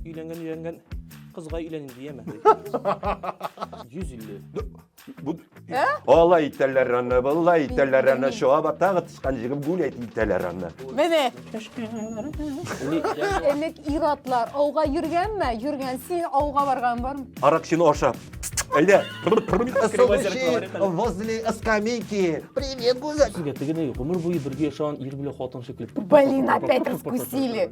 Өйләнгән өйләнгән кызга өйләним дияме? 150. Бу Ә? Алай итәләр аны, былай итәләр аны, Белмим. чаба тагы тышкан җигеп гүләт итәләр аны. Менә. Элек иратлар ауга йөргәнме? Йөргән. Син ауга барган бармы? Аракчыны ашап. Әллә возле скамейки. Привет, гүзәл. Сезгә тегене гомер буе бергә яшәгән ир белән хатын шикелле. Блин, опять раскусили.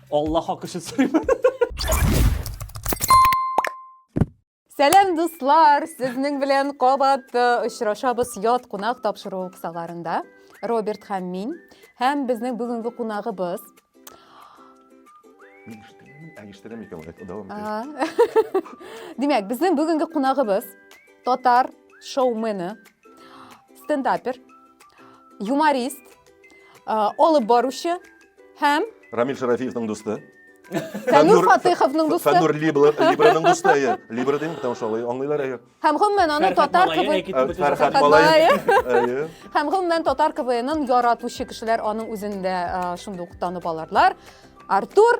Алла хак өчен сорыйм. Сәлам дуслар! Сезнең белән кабат э, очрашабыз ят кунак тапшыру кысаларында. Роберт һәм мин. Һәм безнең бүгенге кунагыбыз. Мин ишетәм, ә ишетәм икән, әйтә дәвам итә. А. Димәк, безнең бүгенге кунагыбыз татар шоумены, стендапер, юморист, э, алып баручы Һәм? Рамил Шарафиевның дусты. Фәнүр Фатыйховның дусты. Фәнүр Либраның дусты, әйе. Либра дим, потому что алай аңлыйлар, әйе. Һәм гомумән аны татар КВН. Фәрхәт Малай. Һәм гомумән татар КВНын яратучы кешеләр аның үзендә шундук танып аларлар. Артур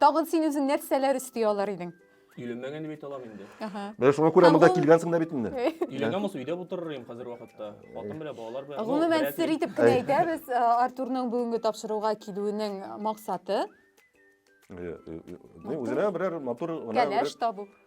Тагын син үзең нәрсәләр өсти алар идең? Өйләнмәгән дип әйтә алам инде. Ага. Менә шуңа күрә монда килгәнсең дә бит инде. Өйләнәм булса, өйдә утырыр идем хәзер вакытта. Хатын белән, балалар белән. Гомумән, сер итеп кенә әйтәбез, э, Артурның бүгенге тапшыруга килүенең максаты. Э, э, үзенә берәр матур гына. Кәләш табу.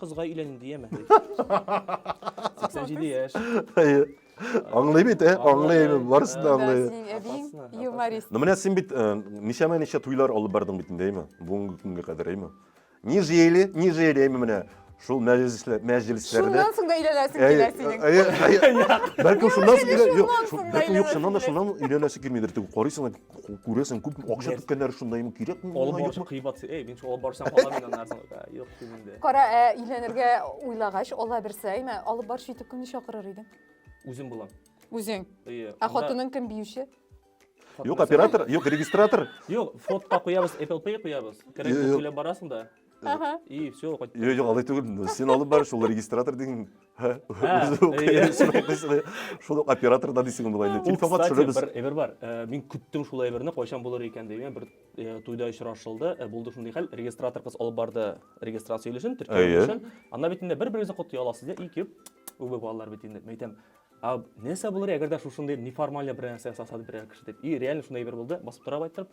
Кызга өйләним дияме? 87 яшь. Әйе. Аңлый бит, ә? Аңлый, барысын да аңлый. Синең әбиең юморист. Ну, менә син бит э, ничәмә ничә туйлар алып бардың бит инде, әйме? Бүгенге көнгә кадәр, әйме? Ни жели, ни жели, әйме менә. Шул мәҗлесләр, мәҗлесләрдә. Шуннан соң да өйләнәсең килә синең. Әйе, әйе. Бәлкем шуннан соң, юк, бәлкем юк, шуннан да шуннан өйләнәсе килмидер. Тик карыйсың да күрәсең күп акча түккәннәр шунда имин кирәкме алып баручы кыйбат эй мин алып барсам кала мин аннардан юк дим инде кара ә өйләнергә уйлагач алла берсе әйме алып баручы итеп кемне чакырыр идең үзем булам үзең ә хатының кем биюче юк оператор юк регистратор юк фотка куябыз apple pay куябыз керәсең сөйләп барасың да Ага. И все, кайттым. Йо, йо, алай түгел. Син алып бар, шул регистратор дигән. Ха. Шул оператор да дисең болай. Телефонга төшерәбез. Бер әйбер бар. Э, мин көттем шул әйберне, кайчан булыр икән дигән бер э, туйда очрашылды. Э, булды шундый хәл. Регистратор кыз алып барды регистрация өлешен, төркем өлешен. Анна бит инде бер-берегезне котлый аласыз, ди, икеп. Үбе балалар бит инде. Мәйтәм, а нәрсә булыр әгәр дә шушындый неформальный бер нәрсә ясаса берәр кеше дип и реально шундай бер булды басып тора байтырып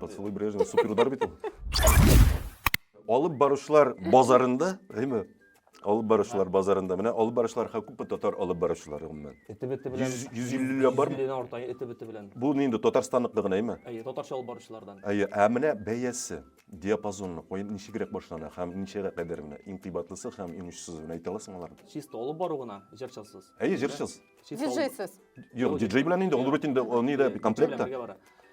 Поцелуй Брежнева супер удар бит ул. Алып баручылар базарында, әйме? Алып баручылар базарында. Менә алып баручылар ха күпме татар алып баручылары гомумән? Эте бете белән. 150 ләп бармы? 150 дән арта эте бете белән. Бу нинди Татарстанныкы гына, әйме? Әйе, татарча алып баручылардан. Әйе, ә менә бәясе, диапазонны куеп ничегрәк башлана һәм ничегә кадәр менә иң кыйбатлысы һәм иң очсызы менә әйтә аласың аларны? Чисто алып бару гына, җырчысыз. Әйе, җырчыз. Чисто алып- Диджейсыз. Юк, диджей белән инде ул бит инде ул нидә Диджей белән комплекта. бергә бара.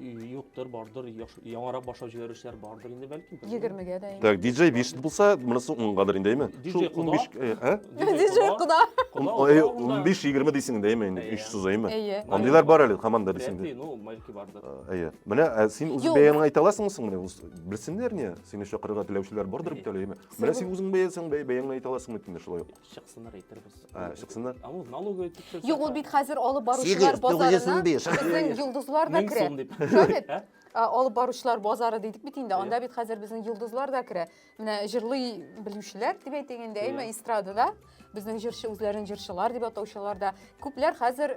юктыр бардыр яңарак башлап җибәрүчеләр бардыр инде бәлки егермегә дә так диджей биш булса монысы уңгадыр инде әйме шул он биш диджей кода он биш егерме дейсең инде әйме инде өч сүз әйме андыйлар бар әле команда дисеңдә әйе менә син үз бәяңне әйтә аласыңмы соң менә белсеннәр не сине чакырырга теләүчеләр бардыр бит әле әйме менә син үзең бәясең бәяңне әйтә аласыңмы дим шулай ук Чыксыннар әйтербез. Ә, чыксыннар. Ә ул налоговый тикшерсә. Юк, ул бит хәзер алып баручылар базарына. 895. Безнең йолдызлар да керә. Мең сум дип. Шабит, ә? Ә, алып баручылар базары дидек бит инде. Анда бит хәзер безнең йолдызлар да керә. Менә җырлый белүчеләр дип әйтик инде, әйме, эстрадада безнең җырчы үзләрен җырчылар дип атаучылар да. Күпләр хәзер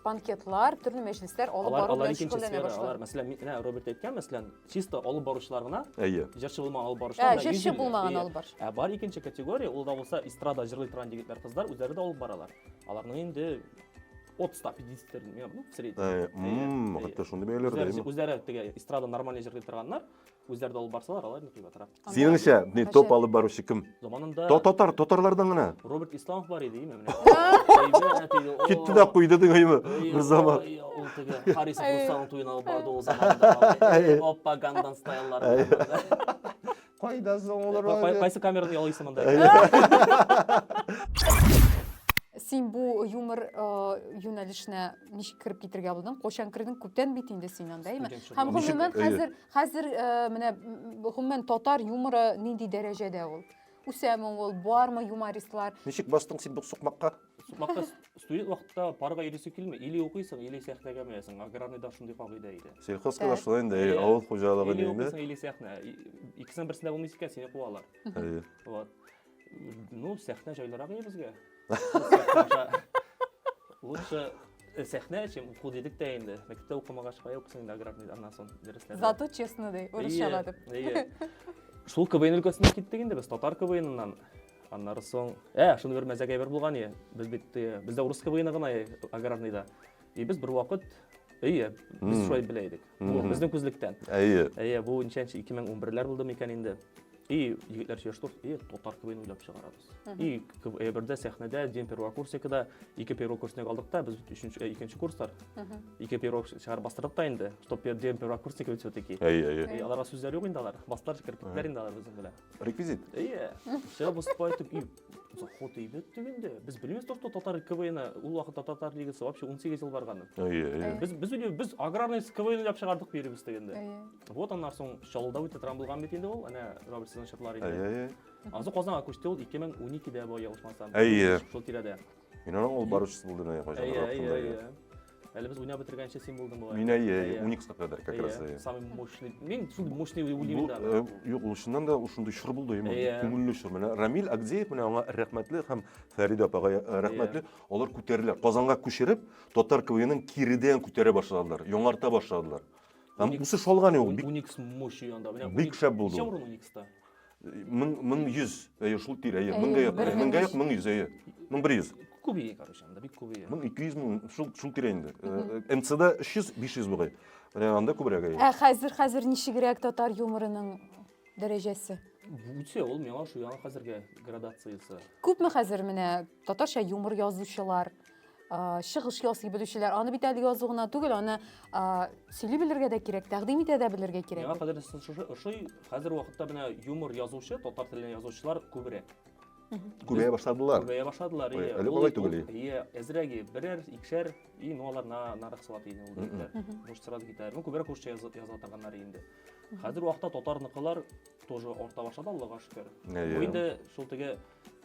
банкетлар, төрле мәҗлесләр алып бару белән шөгыльләнә башлады. Алар, мәсәлән, менә Роберт әйткән, мәсәлән, чисто алып баручылар гына әйе җырчы булмаган алып баручылар ә, җырчы булмаган алып баручы ә бар икенче категория ул да булса эстрада җырлый торган егетләр кызлар үзләре дә алып баралар аларның инде от 150 ну, в среднем. Ә, мм, хәтта шундый бәяләр дә. Үзләре теге эстрада нормально җырлый торганнар, үзләре дә алып барсалар, алар ник ятырак. Синеңчә, ни топ алып баручы кем? Заманында Татар, татарлардан гына. Роберт Исламов бар иде, именно. Китте дә куйды дигәйме бер заман. Ул теге Харис Мусаның туена алып барды ул заманда. Оппа Гангнам стайллары. Кайда соң олар? Кайсы камераны ялыйсы монда? Син бу юмор юнәлешенә ничек кереп китергә булдың? Кочан кердең? Күптән бит инде син анда, әйме? Һәм гомумән хәзер Хәзер э, менә гомумән татар юморы нинди дәрәҗәдә ул? Үсәме ул, бармы юмористлар? Ничек бастың син бу сукмакка? Сукмакта студент вакытта парга йөрисең килми, или укыйсың, или сәхнәгә менәсең. Аграрныйда шундый кагыйдә иде. Сельхозка да шулай инде, авыл хуҗалыгы Или укыйсың, или сәхнә. Икесенең берсендә булмыйсы икән, сине куалар. Вот. Ну, сәхнә җайлырак иде безгә. Лучше э, сәхнә, чем уку дидек тә инде. Мәктәптә укымагач, кая укысың инде аграрный, аннан соң дәресләрдә. Зато честно ди, урысчага дип. Әйе. Шул КВН өлкәсенә киттек инде без, татар КВНыннан. Аннары соң, ә, шуны бер мәзәк әйбер булган ие. Без бит, э, бездә урыс КВНы гына ие, аграрныйда. И без бервакыт Әйе, без шулай белә идек. Бу безнең күзлектән. Әйе. Әйе, бу ничәнче 2011-ләр булды микән инде? И егетләр сөйләштек, и татар квн уйлап чыгарабыз. И КВН-дә сәхнәдә дин первокурсникыда ике первокурсник алдык та, без өченче э, икенче курслар. Ике первок чыгар бастырдык та инде, чтоб дин первокурсник бит все-таки. Әйе, әйе. Аларга сүзләр юк инде алар. Бастылар кирпетләр инде алар безнең белән. Реквизит. Әйе. Все выступают и Ход әйбәт түгенде. Без белмибез то, что татар КВНы ул вакытта татар лигасы вообще 18 ел барганы. Әйе, әйе. Без без үле без аграрный КВН уйлап чыгардык биребез дигәндә. Әйе. Вот аннан соң Чаллыда үтә торган булган бит инде ул, әнә Роберт Сезон чыплар иде. Әйе, әйе. Аннан соң Казанга күчте ул 2012-дә бу ялгышмасам. Әйе. Шул тирәдә. Мин аның алып баручысы булдым әйе кайчан Әйе, әйе, ротында, әйе. Әле без уйнап бетергәнче син булдың бугай. Мин әйе, әйе, Уникска кадәр как раз әйе. Самый мощный. Мин шул мощный Бу, уйлыймын э, юк, ул чыннан да ул шундый чор булды, именно Әйе. күңелле чор. Менә Рамил Агдеев менә аңа рәхмәтле һәм Фәридә апага э, рәхмәтле. Алар күтәрелә. Казанга күчереп, татар КВНын киридән күтәрә башладылар, яңарта башладылар. Һәм үсеш алган ул бик Уникс мощный анда. Менә бик шәп булды Ничә ул. урын Уникста? Мең, мең йөз, әйе, шул тирә, әйе, Әйе, меңгә якын, бер әйе, мең меңгә йөз. якын, мең йөз, әйе. Мең бер йөз. Күбие, короче, анда бик күбие. Мең ике йөз, мең, шул, шул тирә инде. Э, э, МЦда өч йөз, биш йөз бугай. Э, Анда күбрәк, әйе. Ә хәзер хәзер ничегрәк татар юморының дәрәҗәсе? Үтә ул миңа ошый, аңа хәзергә градациясе. Күпме хәзер менә татарча юмор язучылар? чыгыш ясый белүчеләр аны бит әле язу гына түгел аны сөйли белергә дә кирәк тәкъдим итә дә белергә кирәк миңа кадәр шушы ошый хәзер вакытта менә юмор язучы татар телен язучылар күбрәк күбәя башладылар күбәя башладылар иә әле болай түгел иә әзрәге берәр икешәр и ну алар нарык сала тиген ул дигәннәр может сразу китәр ну күбрәк русча яза торганнар инде хәзер вакытта татарныкылар тоже арта башлады аллага шөкер бу инде шул теге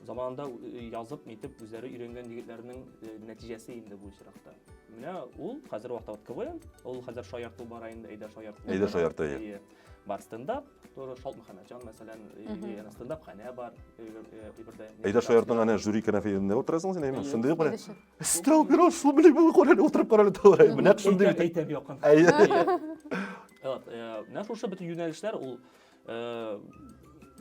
Заманында язып, нитеп, үзләре өйрәнгән егетләрнең нәтиҗәсе инде бу очракта. Менә ул хәзер вакытта вот КВН, ул хәзер шаярту бара инде, әйдә шаярту. Әйдә шаярту, әйе. Бар стендап, тоже Шалт Мөхәммәтҗан, мәсәлән, яна стендап хәнә бар, ибердә. Әйдә шаяртның әнә жюри кәнәфиендә утырасың син, әйме? Шундый бер. Стрел бирос, шул белән бу карале утырып карале тулай. Менә шундый бит. Әйтәм якын. Әйе. Вот, менә шушы бит юнәлешләр ул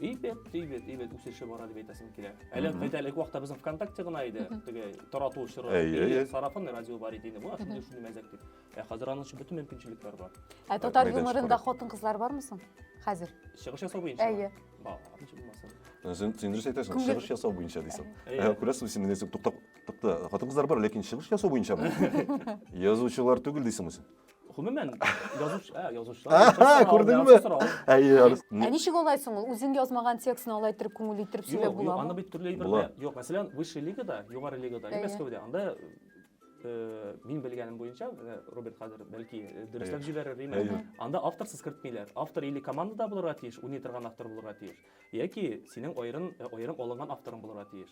Ибет, ибет, ибет үсеше бара дип әйтәсем килә. Әле әйтә элек вакытта безнең ВКонтакте гына иде, теге тарату чоры. Әйе, сарафан радио бар иде инде. Бу шундый шундый мәзәк дип. Ә хәзер аның өчен бөтен мөмкинчелекләр бар. Ә татар юморында хатын-кызлар бармы соң? Хәзер. Чыгыш ясау буенча. Әйе. Бар, ничек булмасын. Син син дөрес әйтәсең, чыгыш ясау буенча дисең. Ә күрәсең, син менә туктап, тукта, хатын-кызлар бар, ләкин чыгыш ясау буенча. Язучылар түгел дисең син. Гомумән, язучы, ә, язучылар. Аха, язучы сорау, күрдеңме? язучы сорау. Әйе, Арыс. Ә ничек алай соң ул? Үзең язмаган текстны алай иттереп күңел иттереп сөйләп Юк, юк, аны буламы? бит төрле әйбер Була. белә. Юк, мәсәлән, высший лигада, югары лигада, Әйе. Мәскәүдә, анда э, мин белгәнем буенча, менә Роберт хәзер бәлки э, дөресләп Әйе. җибәрер, димә. Әйе. Анда авторсыз кертмиләр. Автор или командада булырга тиеш, уйный торган автор булырга тиеш, яки синең аерым э, аерым алынган авторың булырга тиеш.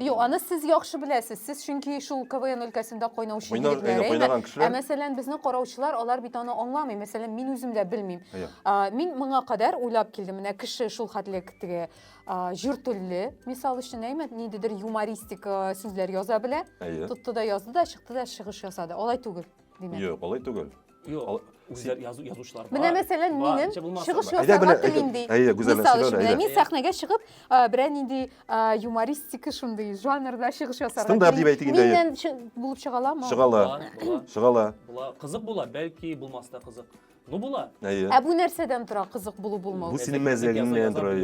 Юк, аны сез яхшы беләсез. Сез чөнки шул КВН өлкәсендә кайнаучы Кайнар- егетләр, әйе, кайнаган әйеме? кешеләр. Ә мәсәлән, безнең караучылар, алар бит аны аңламый. Мәсәлән, мин үзем дә белмим. Әйе. А, Мин моңа кадәр уйлап килдем. Менә кеше шул хәтле теге а, җор телле, мисал өчен, әйме, ниндидер юмористик а, сүзләр яза белә. Әйе. Тотты да язды да, чыкты да чыгыш ясады. Алай түгел, димәк. Юк, алай түгел. Юк, үзләр язу язучылар. Менә мәсәлән минем чыгыш ясарга телим ди. Әйе, гүзәл сөйлә. Менә мин сәхнәгә чыгып, берәр нинди юмористик шундый жанрда чыгыш ясарга. Стендап дип әйтик инде. Миннән булып чыга аламы? Чыга ала. Чыга ала. Була. Кызык була, бәлки булмас та кызык. Ну була. Әйе. Ә бу нәрсәдән тора, кызык булу булмау? Бу синең мәзәгеңнән тора.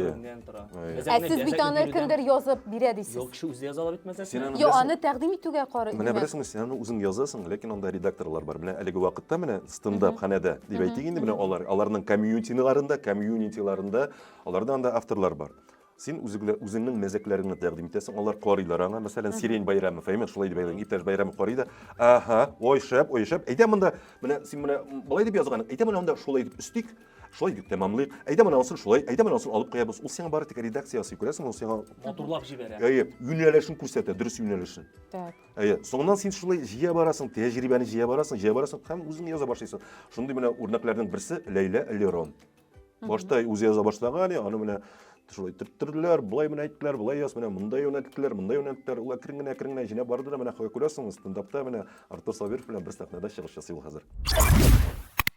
тора. Ә сез бит аны кемдер язып бирә дисез. Юк, кеше үзе яза ала бит мәсьәләсен. Йо, аны тәкъдим итүгә карый. Менә беләсеңме, син аны үзең язасың, ләкин анда редакторлар бар. Менә әлеге вакытта менә стендап ханәдә дип әйтик инде, менә алар, аларның комьюнитиларында, комьюнитиларында, аларда анда авторлар бар. Син үзеңнең мәзәкләреңне тәкъдим итәсең, алар карыйлар аңа. Мәсәлән, Сирень Байрамов, әйме, шулай дип әйтәләр, иптәш Байрамов карый да, аһа, ой шәп, ой шәп. Әйтәм монда, менә син менә болай дип язган, әйтәм менә анда шулай дип өстик, Шулай дип тәмамлыйк. Әйдә менә анысын шулай, әйдә менә анысын алып куябыз. Ул сиңа бары тик редакция ясый, күрәсең, ул сиңа Матурлап җибәрә. әйе, юнәлешен күрсәтә, дөрес юнәлешен. Так. Әйе, соңыннан син шулай җыя барасың, тәҗрибәне җыя барасың, җыя барасың һәм үзең яза башлыйсың. Шундый менә үрнәкләрнең берсе Ләйлә Лерон. Башта үзе яза башлаган, аны менә шулай төрттерләр, болай менә әйттеләр, болай яз, менә монда юнәлттеләр, монда юнәлттеләр. Ул әкрен генә, әкрен генә җинәп барды да менә күрәсең, стендапта менә Артур Сабиров белән бер сәхнәдә чыгыш ясый ул хәзер.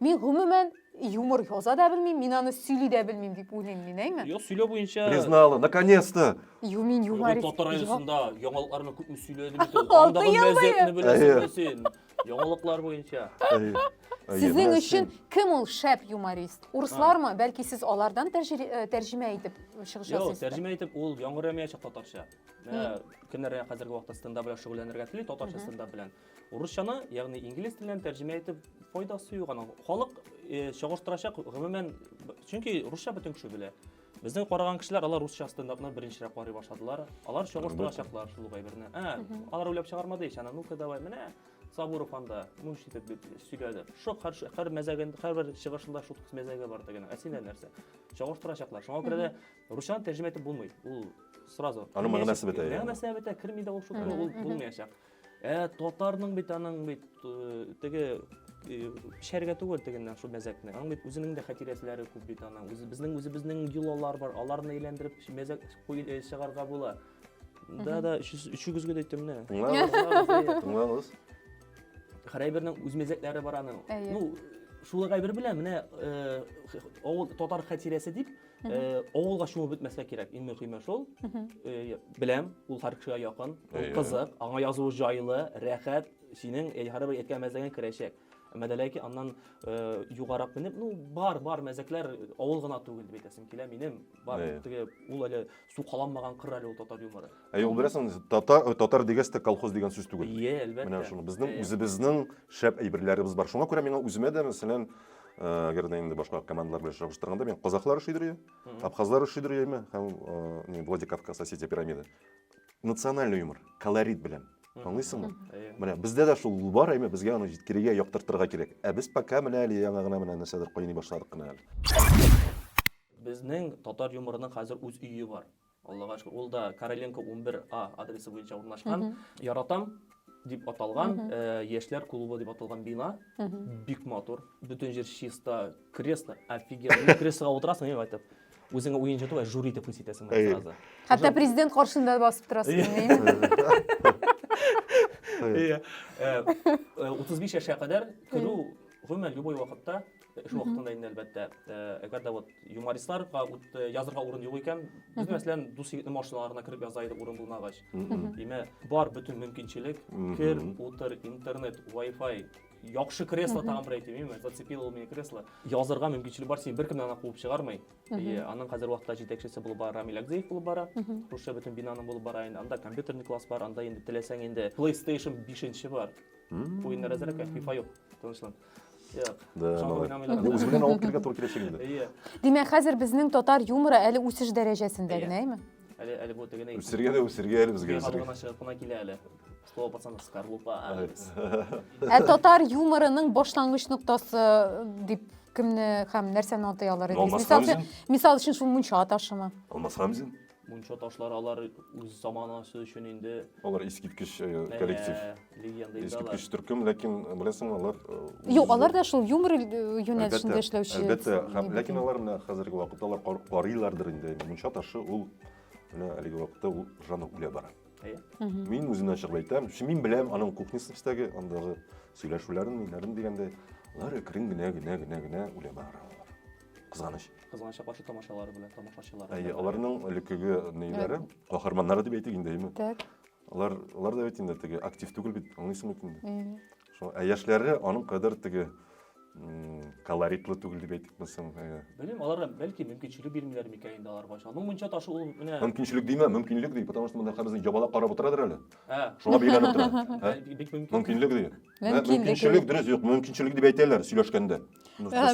Мин гомумән юмор яза да белмим, мин аны сөйли дә белмим дип уйлыйм мин, әйме? Юк, сөйләү буенча Признала, наконец-то! Ю, мин Бүген юморист. татар Юк. радиосында яңалыкларны күпме сөйләдем икән. Алты Андагы ел буе. мәзәкне беләсеңме син? Яңалыклар буенча. Әйе. Әйе, Сезнең менә өчен син. кем ул шәп юморист? Урыслармы? Бәлки сез алардан тәҗри- э, тәрҗемә итеп чыгыш Юк, ясыйсыз? тәрҗемә итеп ул яңгырамаячак татарча. Ә, Кемнәр хәзерге вакытта стендап белән шөгыльләнергә тели, татарча стендап белән. Урысчаны, ягъни инглиз теленнән тәрҗемә итеп файдасы юк аның. Халык э, чагыштырачак гомумән, чөнки русча бөтен кеше белә. Безнең караган кешеләр алар русча стендапны беренчерәк карый башладылар. Алар чагыштырачаклар шул гайберне. Ә, алар уйлап чыгармады ич, ана ну-ка давай, менә Сабуров анда мунч итеп бит сөйләде. Шок һәр ш- һәр мәзәген, һәрбер чыгышында шут мәзәге бар дигән. Ә синдә нәрсә? Чагыштырачаклар. Шуңа күрә дә русчаны тәрҗемә итеп булмый. Ул сразу. Аның мәгънәсе бетә, яғни. Мәгънәсе бетә, керми дә ул шут, ул булмаячак. Ә татарның бит аның бит теге пешәргә түгел тегеннән шул мәзәкне. Аның бит үзенең дә хатирәләре күп бит аның. Үзе безнең үзебезнең йолалар бар. Аларны әйләндереп мәзәк чыгарга була. Да, да, өчегезгә дә әйттем менә. Тыңлагыз. Хәрәйбернең үз мәзәкләре бар аның. Ну, шул гайбер белән менә э, авыл татар хатирәсе дип Э, авылга чумып бетмәскә кирәк иң мөһиме шул э, беләм ул һәр кешегә якын ул кызык аңа язу җайлы рәхәт синең һәрбер бер әйткән мәзәгең керәчәк әмма дә ләкин аннан э, югарак менеп ну бар бар мәзәкләр авыл гына түгел дип әйтәсем килә минем бар теге ул әле сукаланмаган кыр әле ул татар юморы Ә юк беләсең, татар, татар дигәс тә колхоз дигән сүз түгел. Ие, әлбәттә. Менә шуны безнең үзебезнең шәп әйберләребез бар. Шуңа күрә миңа үземә дә, мәсәлән, әгәр дә инде башка командалар белән чагыштырганда, мин казахлар шидри, абхазлар шидри яме һәм не Владикавказ Осетия пирамида. Национальный юмор, колорит белән. Аңлыйсыңмы? Менә бездә дә шул бар, әйме, безгә аны җиткерергә, яктыртырга кирәк. Ә без пока менә әле яңа гына менә нәрсәдер кайный башладык кына әле. Безнең татар юморының хәзер үз өе бар. Аллага шөкер, ул да Короленко 11 А адресы буенча урнашкан. Яратам дип аталган яшьләр клубы дип аталган бина. Бик матур. Бөтен җир чиста, кресло офигенно. Креслога утырасың и кайтып. Үзеңә уенчы түгел, жюри итеп хис итәсең сразу. Хәтта президент каршында басып торасың. 35 яшькә кадәр керү гомумән любой вакытта Эш вакытында инде әлбәттә. Әгәр дә вот юмористларга язырга урын юк икән, без мәсәлән дус егетнең машиналарына кереп яза идек урын булмагач. Димә, бар бөтен мөмкинчелек, кер, утыр, интернет, Wi-Fi, яхшы кресло тагын бер әйтим, именно зацепило ул мине кресло. Язырга мөмкинчелек бар, син беркем дә аны куып чыгармый. И аның хәзер вакытта җитәкчесе булып бара Рамил Акзеев булып бара. Русча бөтен бинаның булып бара инде. Анда компьютерный класс бар, анда инде теләсәң инде PlayStation 5 бар. Уеннар әзер икән, FIFA юк. Тынычлан. Үзе белән алып килергә туры киләчәк инде. Димәк, хәзер безнең татар юморы әле үсеш дәрәҗәсендә генә, әйме? Әле әле бу тегене. Үсергә дә үсергә әле безгә. Халыгына чыгып кына килә әле. Слово пацанов скорлупа. Ә татар юморының башлангыч ноктасы дип кемне һәм нәрсәне атый алар идегез? Мисал өчен, мисал өчен шул мунча ташымы? Алмаз Хамзин. Мунча ташлары алар үз заманасы өчен инде Алар искиткеч э, Әнә, коллектив. легенда инде алар. Искиткеч төркем, ләкин э, беләсеңме, алар э, Юк, үз- алар да шул юмор э, юнәлешендә Әлбәттә, эшләүче. Әлбәттә, һәм әйбәт ләкин инде. алар менә хәзерге вакытта алар кар- карыйлардыр инде. Мунча ташы ул менә әлеге вакытта ул жанр үлә бара. Әйе. Мгм. Мин үземнән чыгып әйтәм, чи- мин беләм аның кухнясын эчтәге, андагы сөйләшүләрен, ниләрен дигәндә, алар әкрен генә генә генә генә үлә бара. Кызганыч. Кызганыч апачы тамашалары белән тамашачылар. Әйе, аларның элеккеге нәйләре, каһарманнары дип әйтик инде, әйме? Так. Алар, алар да бит инде теге актив түгел бит, аңлыйсың бит инде. Әйе. Шул, ә яшьләре аның кадәр теге колоритлы түгел дип әйтик мисың? Белмим, алар бәлки мөмкинчелек бирмиләр микән инде аларга. Аның мунча ташы ул менә Мөмкинчелек димә, мөмкинлек ди, потому что монда хәзер ябалак карап утырадыр әле. Ә. Шуңа бигрәк тора. Бик мөмкин. Мөмкинлек ди. мөмкинчелек дөрес юк мөмкинчелек дип әйтәләр сөйләшкәндә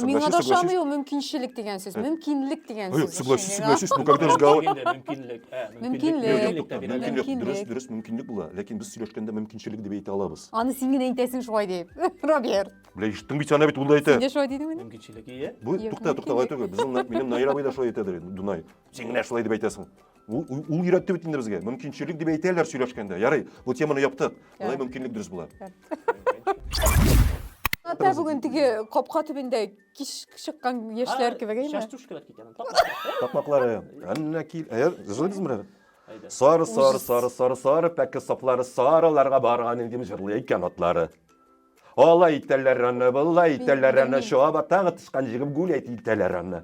миңа да ошамый ул мөмкинчелек дигән сүз мөмкинлек дигән сүз согласись согласись ну когда разговор мөмкинлек мөмкинлек мөмкинлек дөрес дөрес мөмкинлек була ләкин без сөйләшкәндә мөмкинчелек дип әйтә алабыз аны син генә әйтәсең шулай дип роберт бля ишеттең бит ана бит ул да әйтә син дә шулай дидеңме мөмкинчелек ие бу тукта тукта алай түгел безнең минем наил абый да шулай әйтәдер дунай син генә шулай дип әйтәсең Ул, ул, ул өйрәтте бит инде безгә. Мөмкинчелек дип әйтәләр сөйләшкәндә. Ярый, бу теманы яптык. Болай мөмкинлек дөрес була. Ата бүген теге капка төбендә кич чыккан яшьләр кебек әйме? Частушкалар китәм. Тапмаклары. Әннә кил. Әйе, җырлыйбыз мирәр. Сары, сары, сары, сары, сары, пәке саплары, сарыларга барган идем җырлый икән атлары. Алай итәләр аны, былай итәләр аны, чаба тагы тычкан җигеп гүләйт итәләр аны.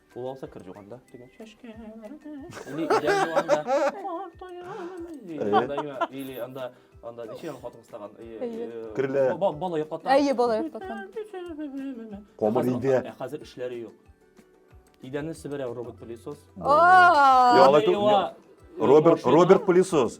Ул алса кер жуганда дигән чәшкә. Или идән жуганда. Кар тояны. Или анда анда ничек аны хатын кыстаган? Керле. Бала йоклата. Әйе, бала йоклата. Камыр иде. Ә хәзер эшләре юк. Идәнне себерә робот пылесос. Роберт Роберт пылесос.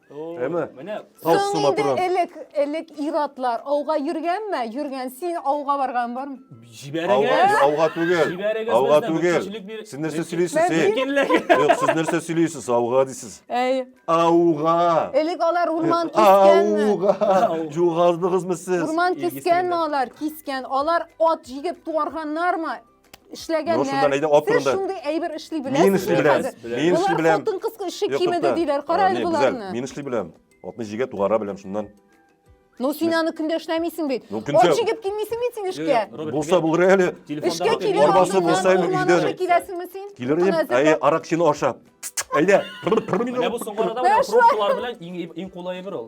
Әмә Соң инде элек, элек иратлар ауга йөргәнме? Йөргән. Син ауга барган бармы? Җибәрегез. Ауга түгел. Җибәрегез. Ауга түгел. Сез нәрсә сөйлисез? Юк, сез нәрсә сөйлисез? Ауга дисез. Әй. Ауга. Элек алар урман кискәнме? Ауга. Югалдыгызмы сез? Урман кискәнме алар? Кискән. Алар ат җигеп туарганнармы? эшләгәннәр. Ну, шунда әйдә, ап Сез шундый әйбер эшли беләсезме? Мин эшли беләм. Мин эшли беләм. Хатын кыз эше кимеде диләр. Кара әле боларны. Мин эшли беләм. Атны җигә тугара беләм шуннан. Ну син аны көндә эшләмисең бит. Ну, көндә... Ат җигеп килмисең бит син эшкә. Булса булыр әле. Эшкә килеп арбасы булса әле өйдә. Эшкә киләсеңме син? Килер идем. Әйе, аракчыны ашап. Әйдә. Менә бу соңгы арада менә пробкалар белән иң иң кулай бер ул.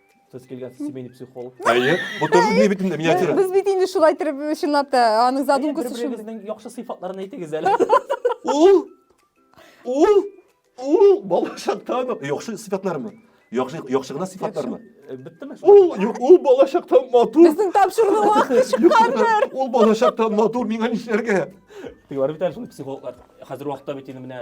Сез килгән семейный психолог. Әйе, бу тоже не бит инде миниатюра. Без бит инде шулай итеп чынлап та аның задумкасы шул. Бер-берегезнең яхшы сыйфатларын әйтегез әле. Ул ул ул балачактан яхшы сыйфатлармы? Яхшы яхшы гына сыйфатлармы? Э, Биттеме? Ул юк, ул балачактан матур. Безнең тапшыруның вакыты чыккандыр. Ул балачактан матур миңа нишләргә? Тик бар бит әле шул психологлар. Хәзер вакытта бит инде менә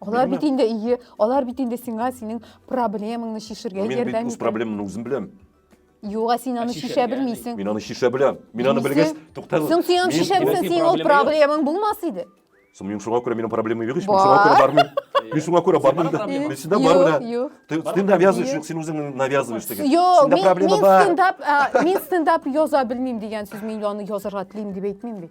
Алар Белмәм. бит инде ие, алар бит инде сиңа синең проблемаңны чишергә Мин бит ярдәм үз итә. проблемамны үзем беләм. Юк, ә син аны чишә чишәргә белмисең. Мин аны чишә беләм. Мин аны Белмисең. белгәч, туктагыз. Соң син аны Мин- чишә мин- белсәң, Синең синең ул проблема проблемаң булмас иде. Соң мин шуңа күрә минем проблемам юк ич. Мин Бар. шуңа күрә бармыйм. Мин шуңа күрә бармыйм да. проблема? Мин синдә Юк, бар да. юк. Ты, ты навязываешь, Юк. юк, син үзең навязываешь теге. Йо, Синдә мин, проблема мин бар. стендап, ә, мин стендап яза белмим дигән сүз, мин аны язарга телим дип әйтмим бит.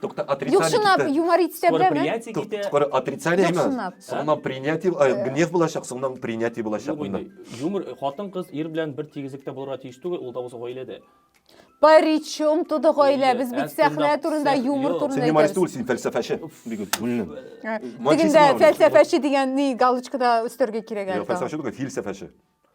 Тукта, отрицание Юк, чынлап китте. юмор итә Скоро беләме? принятие Тук- китә. Скоро отрицание Юк, имя. чынлап. Соңыннан принятие, э, гнев булачак, соңыннан принятие булачак. Юк монда. инде. Юмор хатын кыз ир белән бер тигезлектә булырга тиеш түгел, ул да булса гаиләдә. Причем туды гаилә, без бит Әз сәхнә тыңлап, турында, сәх- юмор юк. Син турында юморист түгел, әйтәбез. син фәлсәфәче. Бигү, бүлнем. Ә, Мачизм Дигәндә бар. фәлсәфәче дигән ни галочкада өстәргә кирәк Юк, әле. фәлсәфәче түгел, филсәфәче.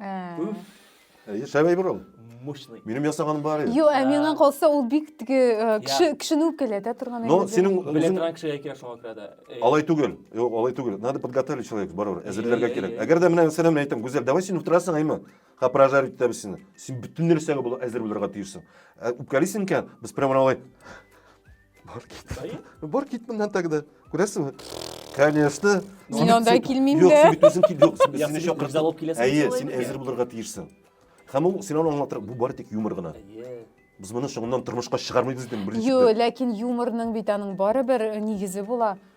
Әйе, шәп әйбер ул. Мощный. Минем ясаганым бар иде. Юк, ә миңа калса ул бик теге э, кеше кешене үпкәләтә торган Но әйбер. синең Белә үзең торган кешегә кирәк шуңа күрә дә. Э, алай түгел. Юк, алай түгел. Надо подготовить человек барыбер. Әзерләргә әйе, кирәк. әйе. Әгәр дә менә мәсәлән мин әйтәм, Гүзәл, давай син утырасың, әйме? Ха прожарить итәбез сине. Син бөтен нәрсәгә бул әзер булырга тиешсең. Ә Үпкәлисең икән, без прямо алай Бар кит. Әйе? Бар кит моннан тогда. Күрәсеңме? Конечно. Мин анда килмим Юк, дә. син бит үзең кил. Юк, син- Яхшы, сине чакырсам- рюкзак алып киләсең. Әйе, Солай син микән? әзер булырга тиешсең. Һәм ул син аны аңлатыр, бу бары тик юмор гына. Әйе. Без моны соңыннан тормышка чыгармыйбыз дидем беренче. Ю, ләкин юморның бит аның барыбер э, нигезе була.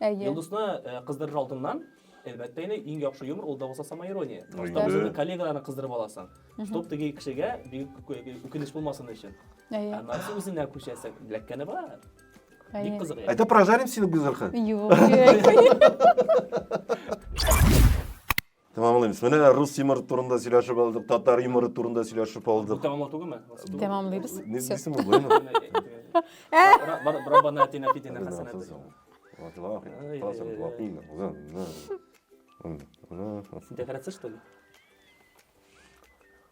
Әйе. Йолдызны э, кыздырыр алдыннан, әлбәттә инде иң яхшы юмор ул да булса самоирония. Потому что Инде. үзеңнең коллегаларны кыздырып аласың. Чтоб теге кешегә бик үк- үкенеч булмасын өчен. Ә Әйе. нәрсә үзенә күчәсең, ләккәне бар. Бик Әйе. кызык. яшь. Это прожарим сине гүзәлхи. Юк. Тәмамлыйбыз. Менә рус юморы турында сөйләшеп алдык, татар юморы турында сөйләшеп алдык. Бу тәмамлау түгелме? Тәмамлыйбыз. Не смысле мы будем? Раббана атина фи дина хасанат. Декорация что ли?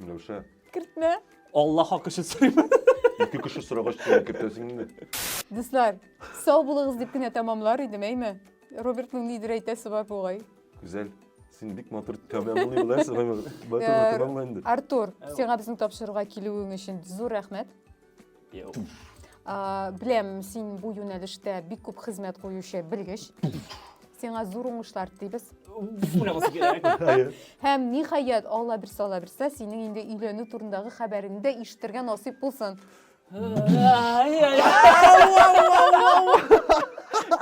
Миләүшә. Кертмә. Алла хак өчен сорыйм. Ике кеше сорагач сиңа кертәсең инде. Дуслар, сау булыгыз дип кенә тәмамлар идем, әйме? Робертның нидер әйтәсе бар бугай. Гүзәл, син бик матур тәмамлый беләсең. Матур матур инде. Артур, сиңа безнең тапшыруга килүең өчен зур рәхмәт. Ә, беләм, син бу юнәлештә бик күп хезмәт куючы белгеч. Сиңа зур уңышлар телибез. Уйламасы кирәк. Әйе. Һәм ниһаять, Алла бирсә, Алла бирсә, синең инде өйләнү турындагы хәбәреңне дә ишетергә насыйп булсын.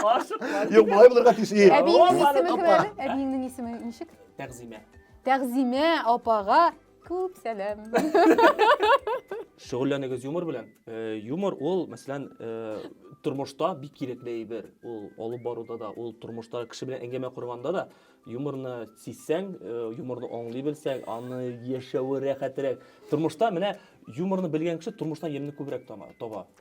Ашыкма. Юк, малай булырга тиеш. Ие. Әбиеңнең Алла исеме кем апа. әле? Әбиеңнең исеме ничек? Тәгъзимә. Тәгъзимә апага Күп сәлам. Шөгыльләнегез юмор белән. Э, юмор ул, мәсәлән, э, тормышта бик кирәкле әйбер. Ул алып баруда да, ул тормышта кеше белән әңгәмә корганда да юморны сизсәң, э, юморны аңлый белсәң, аны яшәве рәхәтрәк. Тормышта менә юморны белгән кеше тормыштан ямьне күбрәк таба.